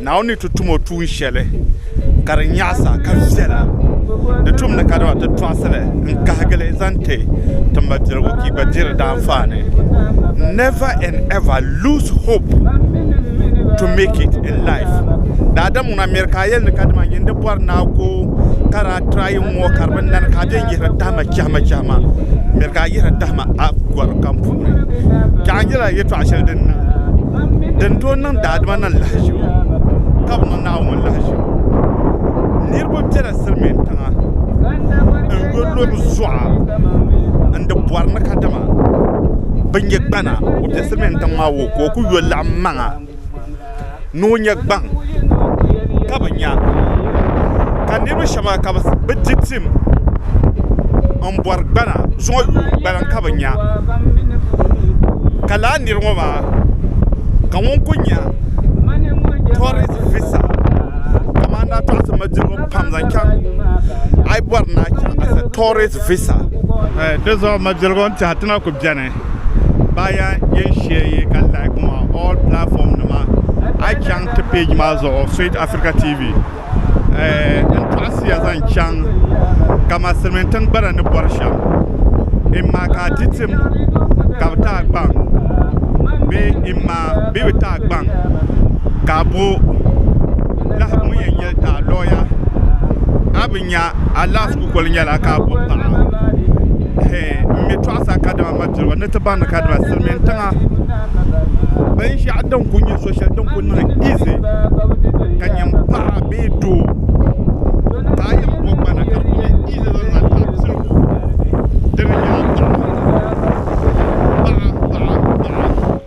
Naawuni ni ti tum o tuun shɛli ka di nyaɣisa ka viɛla, di tumdi ka dama ti tɔɣisili n-kahigili zaŋ ti ti mabiligu ka yi gba diri di anfaani. Never and ever lose hope to make it in life. Daadam ŋuna miri ka a yɛli ni kadama nyin di bɔri ni a go ka daa try n-ŋɔ ka di bi nani ka a bɛn yihiri tahima chɛhima chɛhima miri ka a yihiri tahima a gɔri kam puuni. Chɛɣu n-nyɛla yɛtɔɣ shɛli din niŋ. din tooi niŋ daadama ni lahaʒibu ka bi mi Naawuni lahaʒibu. Niriba bela silimiin tiŋa n-yo lɔbi zuɣa n-di bɔri ni kadama bɛ nya gbana o be silimiin tiŋ maa o ka o kuli yo laɣim maŋa ni o nya gbaŋ. ka bi nya ka niriba shɛba ka bɛ di tim m-bɔri gbana zuɣu yuuni gbana ka bɛ nya ka lala niri ŋɔ maa ka ŋuni kuli nya tɔrisi visa kamani naa tɔrisi malidibo pam zaŋ chaŋ a yi bɔri ni a chaŋ tɔrisi visa. baa yaa yɛn shɛyi ka like ŋɔ all platform nima a chaŋ ti page maa zuɣu sweet Africa TV n tɔɣisiya zaŋ chaŋ ka ma silimiintiŋ gbana ni bɔri shɛm in ma ka a ti tim ka bi ti a gbaŋ bee in ma bee bi ti a gbaŋ ka a bo lahi ŋun yɛn nyɛli ti a lawyer a bi nya alaafee kukoli nyɛla ka a bo paɣa hee m-mi tɔɣisa kadama mapiriba ni ti baŋdi kadama silimiin tiŋa binshɛɣu din kuli nyɛ so shɛli din kuli niŋ izi ka nya m-paɣa bee doo ka a yɛn bo gbana ka di kuli nyɛ izi zaŋ zaŋ ti a pirigu dini n-nyɛ a paɣa paɣa paɣa paɣa.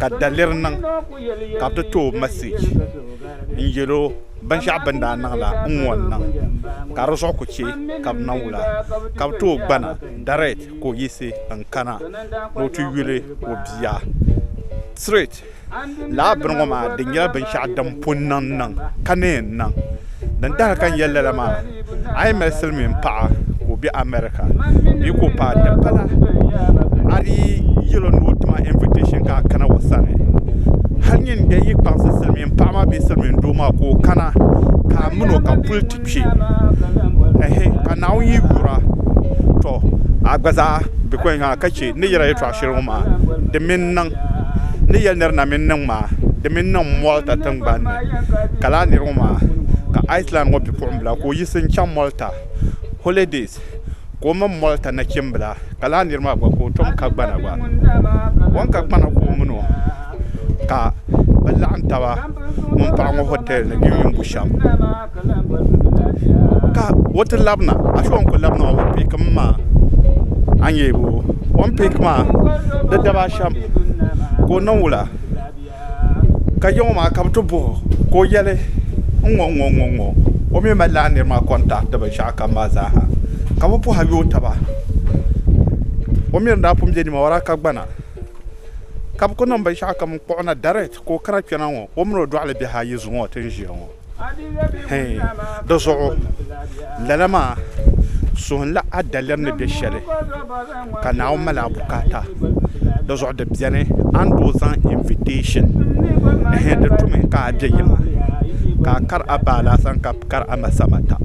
ka daliri niŋ ka bɛ ti ti o message n yɛl o binshɛɣu bɛ ni daa niŋ la n ŋɔ n-niŋ ka di zuɣu kuli chɛ ka bɛ na wula ka bɛ ti o gbana direct ka o yiɣisi n-kana ni o ti yuli o bia straight. Lala bini ŋɔ maa di nyɛla binshɛɣu din pun niŋ niŋ ka ni yɛn niŋ. Din dahi ka n yɛli lala maa, a yi mali silimiin paɣa ka o be America bee ka o paai di bala, a di yɛl o ni o tima invitation ka a kana o sani. Hal nyin n daa yi kpaŋsi silimiin paɣa maa bee silimiin doo maa ka o kana ka a min o ka puli ti kpe, ehe, ka Naawuni yi yura, tɔ! A gba zaa be kɔŋ ha ka chɛ ni yɛla yɛtɔɣ shɛli ŋɔ maa di mi n-niŋ. Ni yɛli nir na mi n-niŋ maa, di mi n-niŋ m-moli ta tiŋgbani ni. ka laa niri ŋɔ maa ka Iceland ŋɔ bipuɣimbila ka o yiɣisi n-chaŋ Malta holidays ka o mini Malta nachimbila ka laa niri maa gba ka o tom ka gbana gba o ni ka gbana ka o min o ka bɛ laɣim taba ŋun paɣi ŋɔ hotel ni bɛ mini bu shɛm ka o ti labina ashike o ni kuli labina maa o picki mi maa a ni yɛli o ni picki maa di daba ashɛm ka o niŋ wula. Ka yiŋɔ maa ka bɛ ti bɔh o, ka o yɛli, N ŋɔ n-ŋɔ, n-ŋɔ n-ŋɔ. O mi mali lala nir maa kɔntahi di binshɛɣu kam maa zaa ha. Ka bɛ pɔha yooi taba. O mi ni daa pun be nimawaraa ka gbana, ka bɛ ku niŋ binshɛɣu kam n-kpuɣ o na direct ka o kana kpɛna ŋɔ, o min o dɔɣili biɛhi ayi zuŋɔ ti ni ʒiya ŋɔ. di zuɣu lala maa suhunla a daliri ni bɛ shɛli ka Naawuni mali a bukaata di zuɣu di biɛni a ni tooi zaŋ invitɛshin di tumi ka a bɛ yiŋa ka a kari a ba alasan ka bi kari a ma samata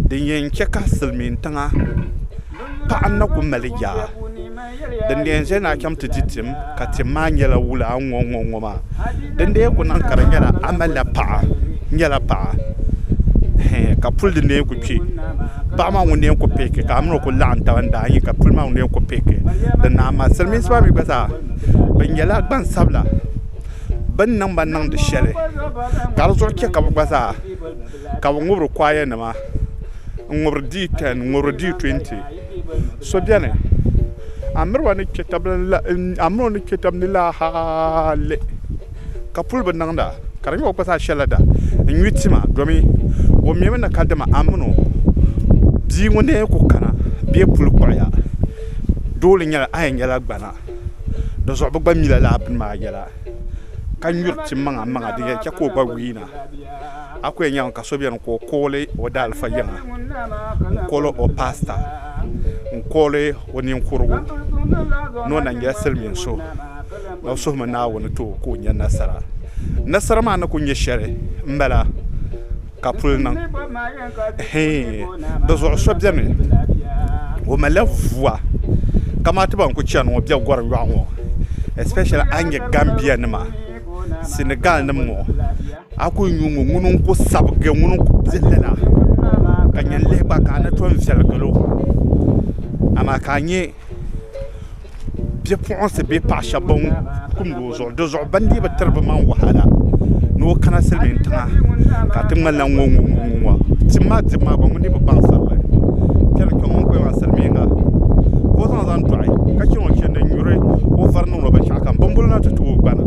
din yɛn chɛ ka silmiin tiŋa paɣa na ku mali yaa Din dee n-ʒe ni a chaŋ ti di tim, ka tim maa nyɛla wula a ni ŋɔ n-ŋɔ ŋɔ maa. Din dee ku niŋ ka di nyɛla a malila paɣa, n nyɛla paɣa, hee, ka puli din dee ku kpe. Paɣa maa ŋun dee ku pihiki ka a mini o ku laɣim taba n-daa nyi ka puli maa ŋun dee ku pihiki di ni a mali. Silimiinsi maa mi gba zaa bɛ nyɛla gbansabila, bɛ ni niŋ ba niŋdi shɛli ka di zuɣu che ka bɛ gba zaa ka bɛ ŋubiri kwayanima n-ŋubiri D10, n-ŋubiri D20. So bɛni, a miri o ni kpe tab ni la hali ka puli bi niŋda, ka di nyɛ o kpa zaa shɛlila da n-nyuy tima domi o mimi ni ka dama a min o bia ŋun nɛɛ ku kana bee puli kpuɣiya dooli nyɛla a yɛn nyɛla gbana di zuɣu bi gba mi la lala bini maa yɛla ka nyuri tim maŋa maŋa din yɛn che ka o gba wii na. A ku yɛn nyaŋ ka so beni ka o kooli o daalifa yiŋa n-kooli o paasita n-kooli o ninkurugu ni o na nyɛla silimiin so na o suhimi Naawuni ti o ka o nya nasara. Nasara maa ni ku nyɛ shɛli m-bala ka puli niŋ hii di zuɣu so beni o malila vuwa kamani ti ban ku chani ŋɔ bɛ gɔri yɔɣu ŋɔ especially a ni nya Gambia nima. Senegal nim ŋɔ a ku nyu ŋɔ ŋuni n ku sabigi ŋuni n ku biɛ lala ka nyɛ lihi gba ka a ni tooi viɛli galo amaa ka a nyɛ bipuɣunsi bee paɣa shab ban kumdi o zuɣu dizuɣu bi ni dii bi tiri bi maŋ wahala ni o kana silmiin tiŋa ka di ŋmanila ŋɔ ŋɔ ŋɔ tim maa dibu maa gba ŋun dii bi baŋ sabiri kpɛri n kpɛ ŋɔ n kuli niŋla silmiinga ka o zaŋ zaŋ doɣi ka chɛ ŋun chɛndi n nyuri o vari roba shɛŋa ka n bimbolo na ti tooi gbana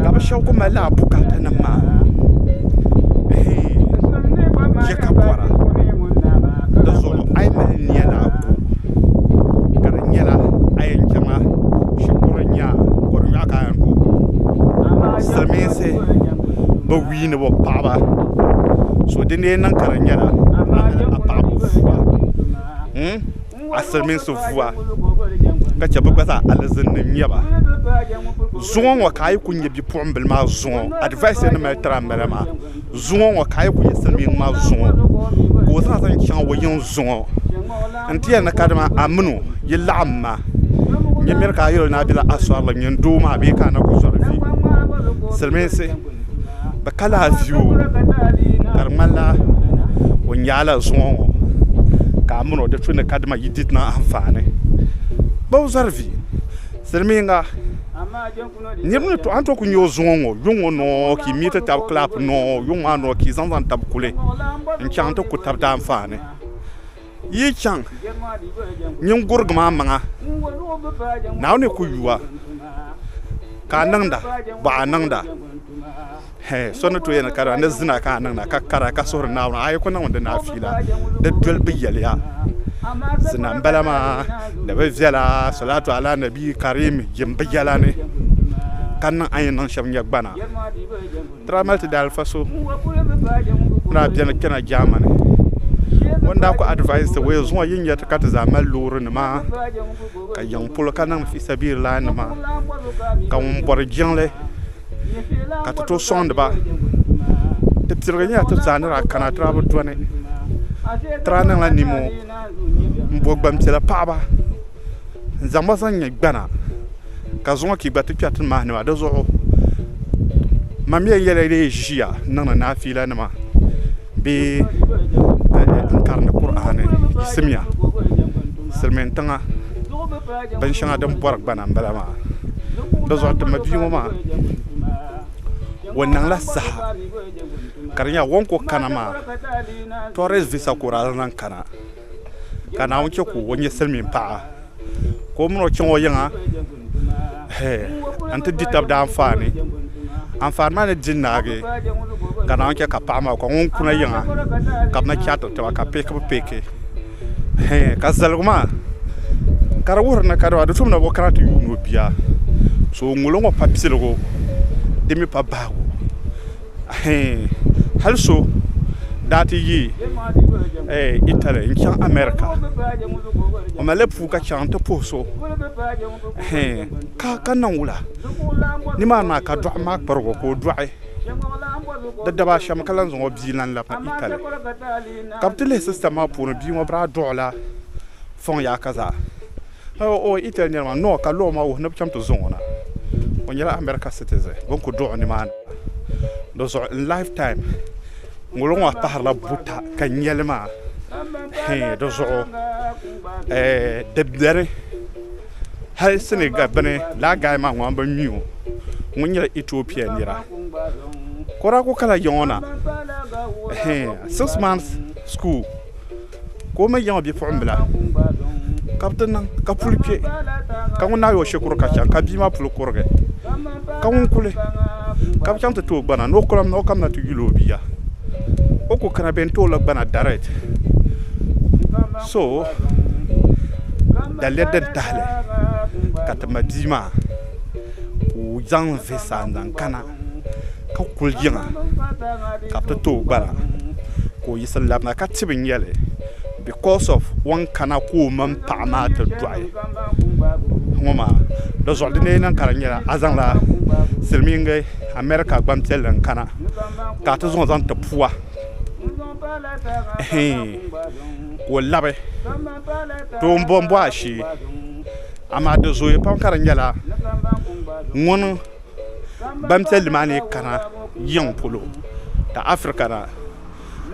ka bi shab ku mali laa bukata nim maa chɛ ka bɔra di zuɣu a yi mali niya ni a ku ka di nyɛla a yɛn chɛŋa shikuru n nyɛ a bɔri nyoɣu ka a yɛn ku silmiinsi bi wii ni bi paɣaba so din dee niŋ ka di nyɛla a mini a paɣaba fuwa a silimiinsi vuwa ka chɛ bɛ gba zaa alizinnim nya ba. Zuŋɔ ŋɔ ka a yi ku nya bipuɣimbila maa zuŋɔ advice ni mali tiri ambala maa zuŋɔ ŋɔ ka a yi ku nya silimiin maa zuŋɔ ka o zaŋ zaŋ chaŋ o yiŋ zuŋɔ n-ti yɛli ni kadama a min o yi laɣim ma nyamiri ka a yɛl o ni a bela Asɔrili nyini doo maa bee ka a na ku zɔri vi silimiinsi. bi ka la afiu ka di ŋmani la o nyaa la zuŋɔ ŋɔ ka a miri o di tu ni kadama yi did niŋ anfaani ba o zari vi silmiinga niriba ni to a ni tooi ku nya o zuŋɔ ŋɔ yuŋ ŋɔ nɔɔ ka yi mi ti tabi kilapi nɔɔ yuŋ maa nɔɔ ka yi zaŋ zaŋ tabi kuli n chaŋ ti ku tabi daanfaani. Yi chaŋ nyingurigi maa maŋa, Naawuni ku yu a ka a niŋda, bɔ a niŋda. Hɛ, so ni tooi yɛli ni ka dama ni zina ka a niŋda, ka kara ka suhiri Naawuni, a yi ku niŋmi di ni a fiila, di dolibu yɛliya, zina m-bala maa, ni bi viɛla, Salaatu Ala Nabi Kariim jimbu yɛla ni, ka niŋ a ni yɛn niŋ shɛm nyɛ gbana. Tramelt daalifa so n-daa beni kpɛna Germany. O ni daa ku advise ti o ya zuŋɔ yi nya ti ka ti zaa mali loorinima ka yiŋ polo ka niŋ fisabilillahinima ka ŋun bɔri jiŋli ka ti tooi sɔŋdi ba. Ti pirigi nyɛla ti zaa ni daa kana ti daa bi dɔni. Ti daa niŋla nimo m-bo gbampiɛla paɣiba. n zaŋ ba zaŋ nyɛ gbana ka zuŋɔ ka yi gba ti kpɛri ti ni maani maa dizuɣu mam yɛn yɛla ni yi ʒiya n niŋdi naafiila nima bee n karindi Kur'aani yisimya silimiin tiŋa binshɛŋa din bɔri gbana n bala maa dizuɣu ti ma bia ŋɔ maa o niŋla saha ka di nyɛla o ni kuli kana maa tourist visa ka o daa zaŋ kana. ka Naawuni chɛ ka o nyɛ silimiin paɣa ka o min o chaŋ o yiŋa n-ti di tab daanfaani anfaani maa ni di naagi ka Naawuni chɛ ka paɣa maa ka ŋun kuna yiŋa ka bɛ na chaatiri taba ka peekibu peeki ka zaligu maa ka di wuhiri ni kadama do so mi na bi o kana ti yuuni o bia so ŋun ŋɔ pa piligu di mi pa bahigu Hee, hali so daa ti yi Italy n-chaŋ America, o mali la puu ka chaŋ nti puhi so hee ka ka niŋ wula? Nimaani maa ka dɔɣim maa kparig o ka o dɔɣi. Di daba a shɛm ka lan zaŋ o bia lan labi na Italy. Ka bɛ ti lihi system maa puuni bia ŋɔ bɛ daa dɔɣila fɔŋ yaaka zaa. O yi tɛli niriba maa noo ka lɔɔ maa wuhi ni bɛ chaŋ ti zaŋ o na, o nyɛla America citizen bɛ ni kuli dɔɣi o nimaani maa. Di zuɣu n life time ŋuliŋɔ maa pahirila buta ka nyɛli maa hee di zuɣu di beni hali Senegal bini lala guy maa ŋun bɛ mi o ŋun nyɛla Ethiopia nira ka o daa kuli kala yiŋɔ na hee six months school. ka o mi yiŋ o bipuɣimbila, ka bɛ ti niŋ ka puli kpe, ka ŋun naai o shikuru ka chaŋ ka bia maa puli kurigi, ka ŋun kuli ka bɛ chaŋ ti ti o gbana ni o kulim ni o kamina ti yuli o bia, o ku kana bɛ ni ti o la gbana direct, so daliya din tahili ka ti ma bia maa ka o zaŋ visa n-zaŋ kana. ka kuli yiŋa ka bɛ ti tooi gbara ka o yiɣisi labina ka tibi nyɛli because of o ni kana ka o mini paɣa maa ti dɔɣi ŋɔ maa dizuɣu di ni yɛn niŋ ka di nyɛla a zaŋla silimiingi America gbampiɛlli n kana ka a ti zaŋ o zaŋ ti pua ɛɛn ka o labi too m bɔmbɔ ashee amaa di zooya pam ka di nyɛla ŋuni Gbanpiɛlli maa ni kana yiŋ polo ka Africa na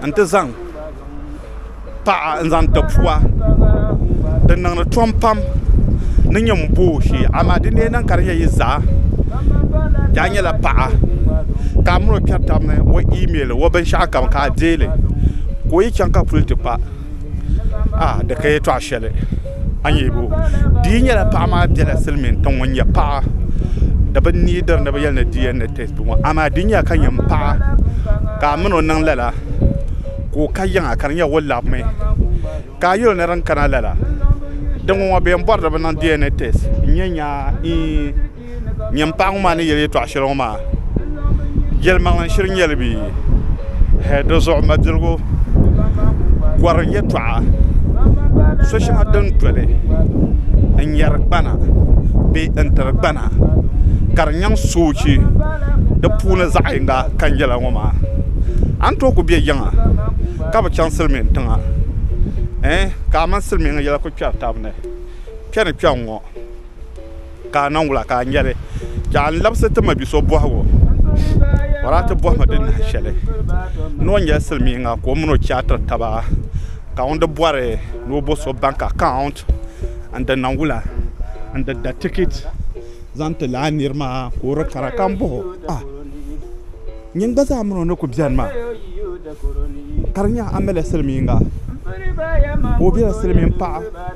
n-ti zaŋ paɣa n-zaŋ ti pua di niŋdi tom pam ni nyɛ m-bo o shee amaa di ni yɛn niŋ ka di nyɛ yi zaa daa nyɛla paɣa ka a mini o kpɛri taba ni o email o binshɛɣukam ka a deei li ka o yi chaŋ ka puli ti kpa a di ka yɛtɔɣa shɛli a ni yɛbo di yi nyɛla paɣa maa biɛla silmiin tiŋ ŋun nyɛ paɣa di bi nii diri ni bi yɛli ni dna tɛst ŋɔ amaa di ni nyɛla ka nyɛ n paɣa ka a mini o niŋ lala ka o ka yiŋa ka di nyɛ o labimi ka a yuli ni din kana lala din ŋɔ ŋɔ bɛn bori ni bi niŋ dna tɛst n nyɛ nyaa iin Nyini paɣa ŋɔ maa ni yeli yɛltɔɣa shɛli ŋɔ maa yɛlimaŋli shili nyɛli bee hee di zuɣu mabiligu gɔrim yɛltɔɣa so shɛŋa din doli n nyari gbana bee n tiri gbana ka di nyaŋ soochi di puuni zaɣ yini ka n yɛli ŋɔ maa a ni tooi ku be yiŋa ka bi chaŋ silmiin tiŋa ka a mini silmiingi yɛla ku kpɛri tabi ni kpɛ ni kpɛ n ŋɔ ka a niŋ wula ka a nyɛli ka a ni labisi ti ma bi so bɔhigu bɔri a ti bɔhi ma di nahi shɛli ni o nyɛli silimiinga ka o mini o chɛ a tiri taba ka ŋun di bɔri ni o bo so bank account n di niŋ wula n di da ticket zaŋ ti lala niri maa ka o di kana ka m bɔhi o a nyin gba zaa mini o ni ku beni maa ka di nya a mali la silimiinga ka o bela silimiin paɣa.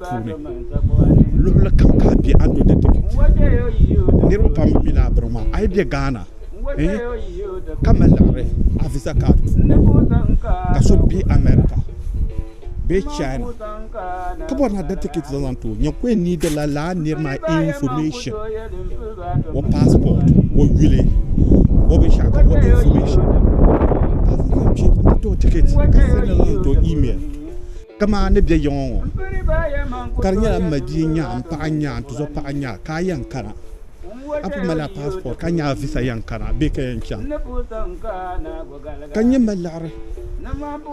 puuni luɣuli kam ka bɛ a ni dikiti niriba pam mi laa biri maa a yi bɛ Ghana ka mali liɣiri a visa card puuni ka so bɛ America bee China ka bɔri na da tikiti zaŋ zaŋ ti o nyɛ ka o yɛn ni dila laa niri maa information o passport o yuli o binshɛɣu kam o information ka zaŋ zaŋ kpe n ti ti o tikiti ka sɛndi li niŋ ti o email. Kaman ni bɛ yiŋɔ ŋɔ, ka di nyɛla m ma bia n-nya, m paɣa n-nya, n tizɔr paɣa n-nya, ka a yɛn kana, a pun malila passport ka nyaai visa yɛn kana bee ka yɛn chaŋ? Ka n nyɛ m mali laɣiri,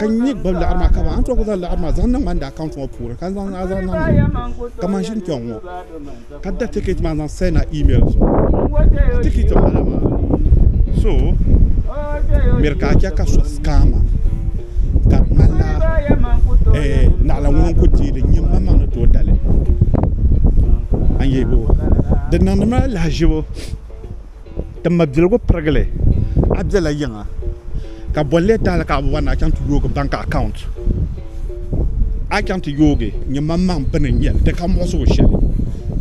ka n nyɛ gbabi laɣiri maa, kaman a ni tooi ku zaŋ laɣiri maa zaŋ niŋ ma n daa account ŋɔ puuni ka n zaŋ a zaŋ niŋ kaman ʒini kpɛŋ ŋɔ. ka da ticket maa zaŋ send na email zuɣu ka ticket bala maa so miri ka chɛ ka so scamma ka di ŋmanila eh, naɣila ŋuna n-ku deei di nyini maŋmaŋ ni tooi dali an yehibo di niŋdimi lahiʒibu Ti mabiligu pirigili a bela yiŋa ka boli lee tahili ka a bi bɔri ni a chaŋ ti yoogi bank account a chaŋ ti yoogi nyɛ maŋmaŋ bini n-nyɛli di ka muɣisigu shɛli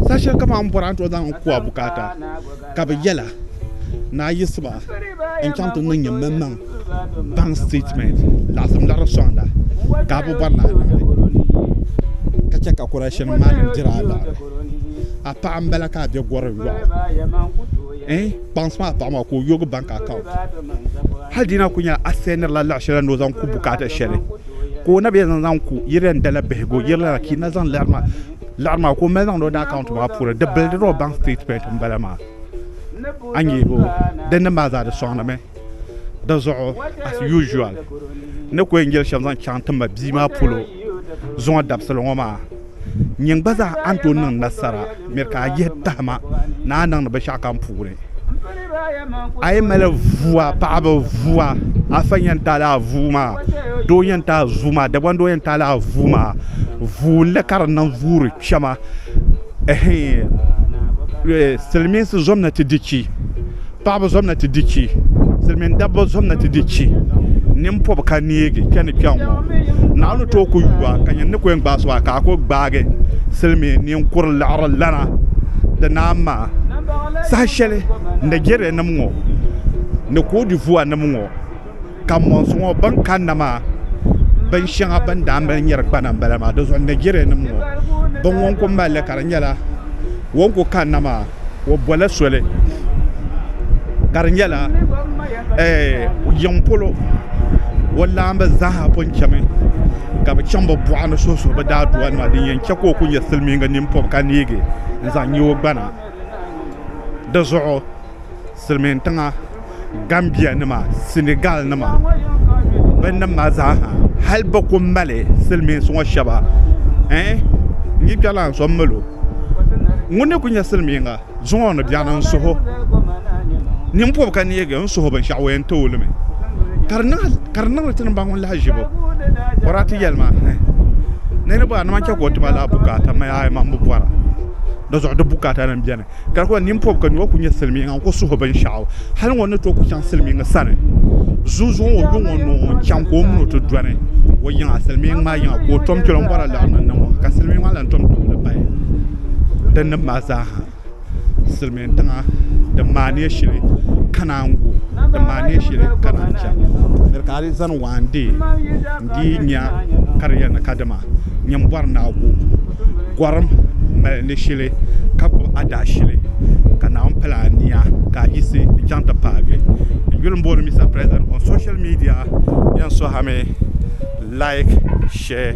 saha shɛli kam a ni bɔri a ni tooi zaŋ n-ku a bukaata ka bɛ yɛla ni a yiɣisiba n-chaŋ ti niŋ nyɛ maŋmaŋ. bank statement laɣasim laɣari soŋda ka bi bɔri laa niŋdi ka chɛ ka correction maa nim dira alaari a paɣa n bala ka a bɛ gɔri lɔɣu kpaŋsi maa paɣa maa ka o yogi bank account hali dina ku nyɛla a sɛndiri la laɣa shɛli ni o zaŋ ku bukaata shɛli ka o na bɛ zaŋ zaŋ ku yiri n dala bihigu yiri la ka na zaŋ laɣari maa laɣari maa ka o mali zaŋdi o daa account maa puuni di bilidiri o bank statement n bala maa a nyɛ o dini maa zaa di soŋdi mi. Di zuɣu as usual ni ku yɛn yɛli shɛm zaŋ chaŋ ti ma bia maa polo zuŋɔ dabisili ŋɔ maa nyin gba zaa a ni tooi niŋ nasara miri ka a yihi tahima ni a niŋdi binshɛɣu kam puuni a yi mali vua paɣaba vua afa yɛn taali a vuu maa doo yɛn taai zuu maa Dagban doo yɛn taali a vuu maa vuu n-li ka di niŋ vuuri kpɛma silimiinsi zom na ti di chi paɣaba zom na ti di chi silimiin dabba zom na ti di chi nimpɔbi ka neegi kpe ni kpɛŋ ŋɔ naɣa ni tooi ku yu a ka nyini ni ku yɛn gbaai so a ka a ku gbaagi silimiin ninkuri liɣiri lana di naan maa saha shɛli Najeriya nim ŋɔ ni koodivuwa nim ŋɔ. Ka mɔnsi ŋɔ bɛn kanna maa bin shɛŋa bɛn daa mali nyɛri gbana m-bala maa di zuɣu Nigerianim ŋɔ bɛn ŋɔ n-ku mali li ka di nyɛla o ni ku kanna maa o bɔla soli ka di nyɛla yiŋ polo o laamba zaaha pun chami ka bɛ chaŋ bɛ buɣa ni suhi suhi bɛ daadɔyanima din yɛn chɛ ka o ku nyɛ silimiiŋga ninpɔb ka neegi n-zaŋ nya o gbana di zuɣu. silimiin tiŋa Gambia nima Senegal nima bɛ nim maa zaa ha hali bɛ kuli mali silimiinsi ŋɔ shɛba ɛɛh n yi kpɛri la n so m mali o ŋuni n kuli nyɛ silimiinga zuŋɔ ni bɛni n suhi o ninpɔbi ka neegi n suhi o binshɛɣu o yɛn tooi limi ka di niŋdi ti ni baŋ ŋuni lahaʒibu bɔraa ti yɛlima hɛɛh niriba a ni man chɛ ka o ti ba lala bukaata m mi a yɛn man bi bɔra di zuɣu di bukaata nim bɛni. ka di kuli nini pɔbi ka nyɔɣu ku nyɛ silimiiŋa n-ku suhi binshɛɣu hali ŋɔ ni tooi ku chaŋ silimiiŋa sani zuŋzuŋɔ o lo ŋɔ ni o chaŋ ka o min o ti dɔni o yiŋa silimiiŋ maa yiŋa ka o tom kpɛl o ni bɔri alaɣiri ni ŋɔ ka silimiiŋ maa lan tom tumdi bahi di nib maa zaa ha silimiin tiŋa din maa neei shili ka naan gu din maa neei shili ka naan chɛ di ka a di zani waa n-deei n-dii nya ka di yɛli ni kadama nyin bɔri ni a gu gɔrim mali ni shili ka gbubi adaashili ka Naawuni pala nia ka a yiɣisi n-chaŋ ti paagi n yuli m-booni Mister President on social media bɛn sɔhimi like share